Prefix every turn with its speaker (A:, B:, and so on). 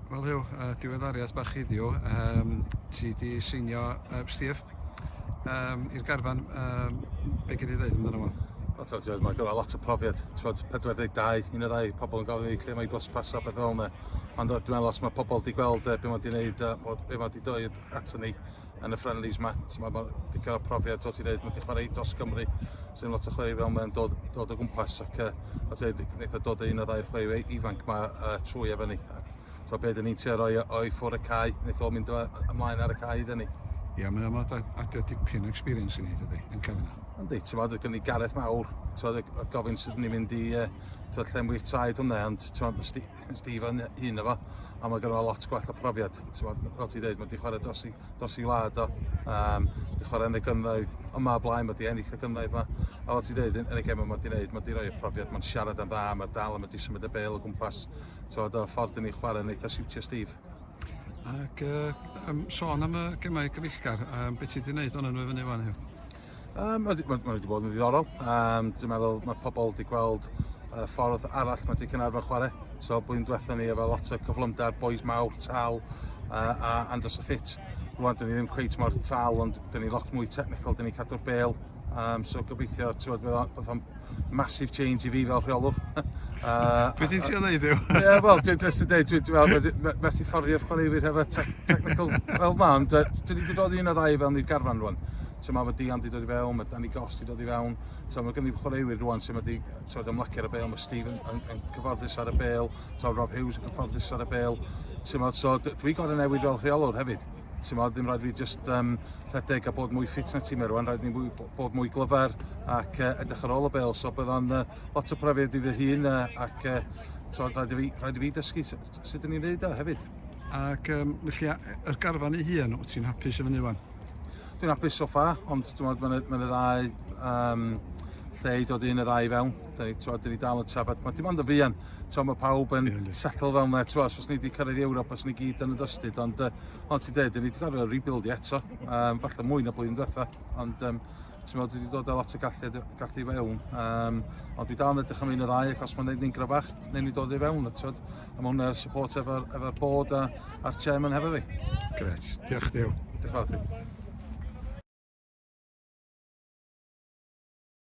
A: Wel Huw, uh, diweddariad bach heddiw, um, ti di seinio uh, Steve um, i'r garfan, um, be gyd i ddweud amdano fo? O, ti'n gwybod, mae gyda lot o profiad, ti'n gwybod, 42, un o'r rai pobl yn gofyn i lle mae gos pasio beth fel yna. Ond dwi'n meddwl os mae pobl wedi gweld uh, beth mae wedi gwneud, uh, beth mae wedi dweud ato ni, yn y friendlies ma. So mae wedi cael profiad, ti'n dweud, mae wedi chwarae dros Gymru, sy'n lot o chwarae fel mae'n dod, dod o gwmpas, ac uh, o ti'n dweud, dod o un o ddau'r chwarae ifanc mae uh, trwy efo ni. So beth ni'n trio roi o'i ffwr y cae, wnaeth o mynd ymlaen ar y cae iddyn ni. Ie, yeah, mae'n amlwg adio dipyn o experience i ni, dydy, yn cael yna. Yndi, ti'n meddwl, gen i Gareth Mawr, ti'n meddwl, y gofyn sydd ni'n mynd i, uh, ti'n meddwl, llenwi'r traed hwnna, ond ti'n meddwl, Steve yn un efo, a mae gynnu lot gwell o profiad. Fel ti dweud, mae wedi chwarae dros i, dros i wlad o, um, wedi chwarae yn y gynnoedd yma o blaen, mae wedi ennill y gynnoedd yma. A fel ti dweud, yn y gem yma mae wedi gwneud, mae wedi rhoi y profiad, mae'n siarad yn dda, mae dal yn wedi symud y bel o gwmpas. Tywed, y ffordd yn ei chwarae yn eitha siwtio Steve. Ac uh, um, sôn am y gemau gyfeillgar, um, beth ti wedi gwneud o'n nhw i fyny fan hyn? Um, mae wedi bod yn ddiddorol. Um, dwi'n meddwl mae pobl wedi gweld uh, ffordd arall mae wedi Cynarfon chwarae. So blwyddyn diwethaf ni efo lot o cyflymder, boys mawr, tal uh, a Andros y Ffit. Rwan, dyn ni ddim cweit mor tal, ond dyn ni lot mwy technical, dyn ni cadw'r bel. Um, so gobeithio, ti'n bod, bydd o'n massive change i fi fel rheolwr. uh, Beth ti'n siarad neud yw? Ie, wel, dwi'n just yn dweud, dwi'n dweud, methu fforddio'r chwaraewyr hefo technical fel ma, ond uh, dyn ni wedi dod un o ddau fel ni'r garfan rwan. Ti'n ma, mae Dian wedi dod i fewn, mae Danny Goss wedi dod i fewn, ti'n mae gynnu chwaraewyr rwan sy'n wedi, ti'n ma, ymlacio ar y bel, mae Steve yn, yn, yn cyfforddus ar y bel, ti'n Rob Hughes yn cyfforddus ar y bel, ti'n ma, so dwi'n gorau newid fel rheolwr hefyd. Ti'n modd, ddim rhaid fi just um, rhedeg a bod mwy ffit na ti mewn rwan, rhaid ni mwy, bod mwy glyfar ac uh, edrych ar ôl y bel. So bydd o'n uh, lot o profiad i fy hun uh, ac uh, so, rhaid, i fi, rhaid i fi dysgu sut ydyn ni'n neud o hefyd. Ac um, felly, yr garfan ei hun, wyt ti'n hapus i fyny wan? Dwi'n hapus so far, ond dwi'n meddwl mae'n y ddau um, lle i dod un y ddau fewn. Dau, twa, dyn ni dal yn trafod, mae dim ond yn fuan, twa, mae pawb yn settle fel yna, twa, os ni wedi cyrraedd i Ewrop, os ni gyd yn y dystud, ond uh, ond ti'n dweud, dyn ni wedi gorfod rebuild i eto, um, falle mwy na blwyddyn diwetha, ond um, ti'n meddwl, dwi wedi dod â lot o gallu, gallu i fewn, um, ond dwi dal yn edrych am un o ddau, ac os mae'n gwneud ni'n gryfach, newn ni dod i fewn, a ti'n a mae hwnna'r support efo'r efo bod a, a'r chairman hefo fi. Gret, diolch Dew. Diolch fawr ti.